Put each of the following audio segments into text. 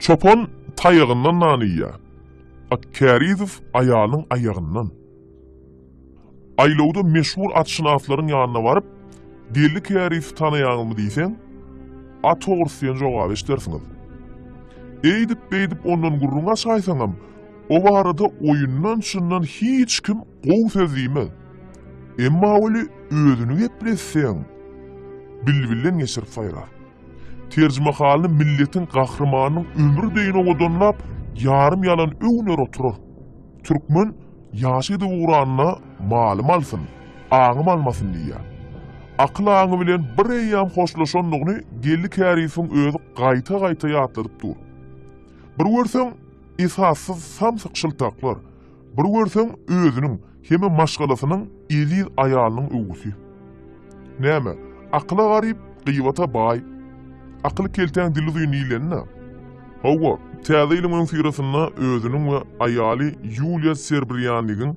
Çopan taýagyndan nan iýýär. At Kärizow aýalynyň aýagyndan. Aýlawda meşhur atşynaslaryň ýanyna baryp, Geldi Kärizowy tanaýaňyzmy diýseň, At ogrusy diýen jogaby eşidersiňiz. Eýdip-beýdip ondan gürrüň açaýsaňam, o barada oýundan-çyndan hiç kim Gowy söz diýmez. Emma weli özüni gepletseň, bilbilden geçirip saýrar. Terjimehalyny milletiň gahrymanynyň ömri deýin owadanlap, ýarym ýalan öwner oturar. Türkmen ýaş gidip ugranda malym alsyn, aňym almasyn diýýär. Akyl-aňy bilen bir eýýam hoşlaşandygyny Geldi Käriýewiň özi gaýta-gaýta ýatladyp dur. Bir görseň, esassyz samsyk şyltaklar. Bir görseň, özüniň hem-ä maşgalasynyň eziz aýalynyň öwgüsi. Näme, akyla garyp, gybata baý. Akyl keltäň dili uzyn diýleni-dä. Hawa, täze ýylyň öňüsyrasynda özüniň we aýaly Ýuliýa Serbrýanigiň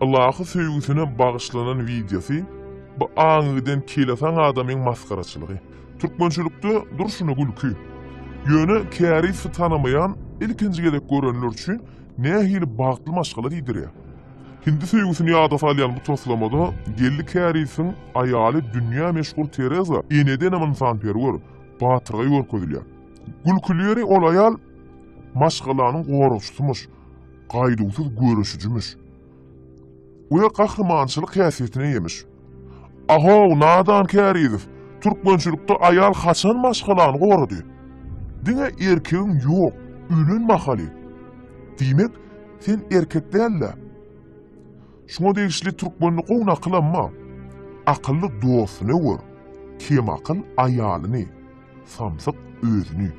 ylahy söýgüsine bagyşlanan wideosy, bu aňy giden kelesaň adamyň masgaraçylygy. Türkmençilikde durşuna gülki. Ýöne kärizsi tanamaýan, ilkinji gezek görenler üçin Nähili bagtly maşgala diýdirýär. Hindi söýgüsini ýada salýan bu taslamada Geldi Kärisiň aýaly dünýä meşhur Tereza enedenem ynsanperwer, batyrgaý görkezilýär. Gülküli ýeri ol aýal maşgalanyň goragçysymyş, gaýduwsyz göreşijimiş. we gahrymançylyk häsiýetine eýemiş. Ahow, nadan Kärizow, türkmençilikde aýal haçan maşgalany gorady? Diňe erkegiň ýok, ölen mahaly. Diýmek, sen erkek däl-dä? Şuňa degişli türkmende gowy nakylam bar, Akylly dostuny gör, kemakyl aýalyny. Samsyk özüni.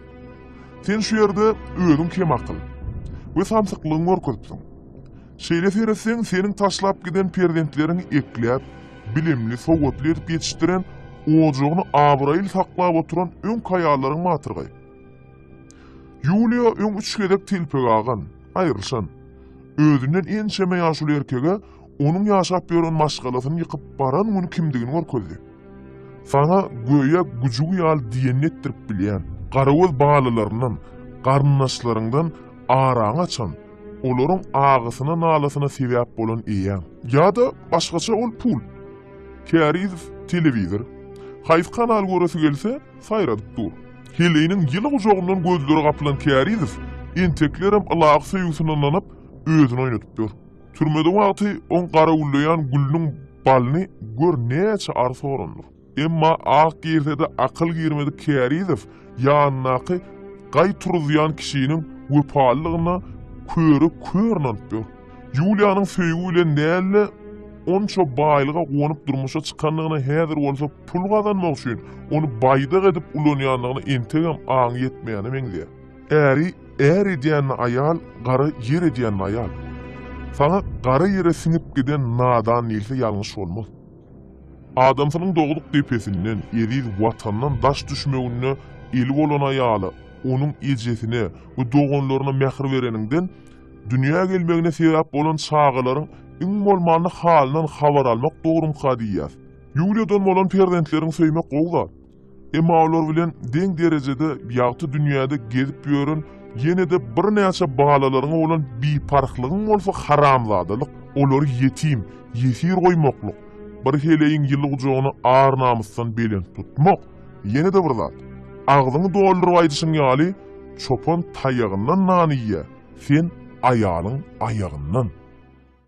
Sen şu ýerde özüň kemakyl we samsyklygyňy görkezipsiň. Şeýle seretseň, seniň taşlap giden perzentleriň ekläp, bilimli, sowatly edip ýetişdiren, ojagyny abraýly saklap oturan öňki aýallaryň matyrgaý. Ýuliýa öň üç gezek telpek agan, aýrylyşan. Özünden ençeme ýaşuly erkege Onuň ýaşap ýören maşgalasyny ýykyp baran güni kimdigini görkezdi. Saňa göýä güjügi ýaly diýenini etdirip bilýän, garagöz balalaryndan, garyndaşlaryňdan araňy açan, olaryň agysyna-nalasyna sebäp bolan eýäň. Ýa-da başgaça ol pul. Kärizow telewizor, haýsy kanal göresi gelse, saýradyp dur. Heleýiniň ýyly gujagyndan gözleri gapylan Kärizow enteklerem ylagy söýgüsine ynanyp, özüni oýnadyp ýör. Türmede wagty oň garawullaýan gülüniň balyny gör näçe arsa orandyr. Emma ak girse-de akyl girmedik Kärizow ýanyndaky gaý turuzýan kişiniň wepalylygyna köre kör ynanyp ýör. Ýuliýanyň söýgi bilen däl-de, onça baýlyga guwanyp durmuşa çykandygyna häzir bolsa pul gazanmak üçin ony baýdak edip ulanýandygyna entegem aňy ýetmeýäne meňzeýär. Äri är edýänini aýal, gara ýer edýänini aýal. Saňa gara ýere siňip giden nadan diýilse ýalňyş bolmaz. Adamsynyň dogduk depesinden, eziz Watandan daş düşmeginde eli bolan aýala, onuň ejesine we doganlaryna mähir bereniňden, dünýä gelmegine sebäp bolan çagalaryň iň bolmanda halyndan habar almak dogrumyka diýýäs. Ýuliýadan bolan perzentleriňi söýmek gowy zat. Emma olar bilen deň derejede ýagty dünýäde gezip ýören ýene-de birnäçe balalaryňa bolan biparhlygyň bolsa haramzadalyk, olary ýetim, ýesir goýmaklyk, bir heleýiň ýyly gujagyny ar-namysdan belent tutmak, ýene-de bir zat, agzyňy dolduryp aýdyşyň ýaly, çopan taýagyndan nan iýýär, sen aýalyň aýagyndan.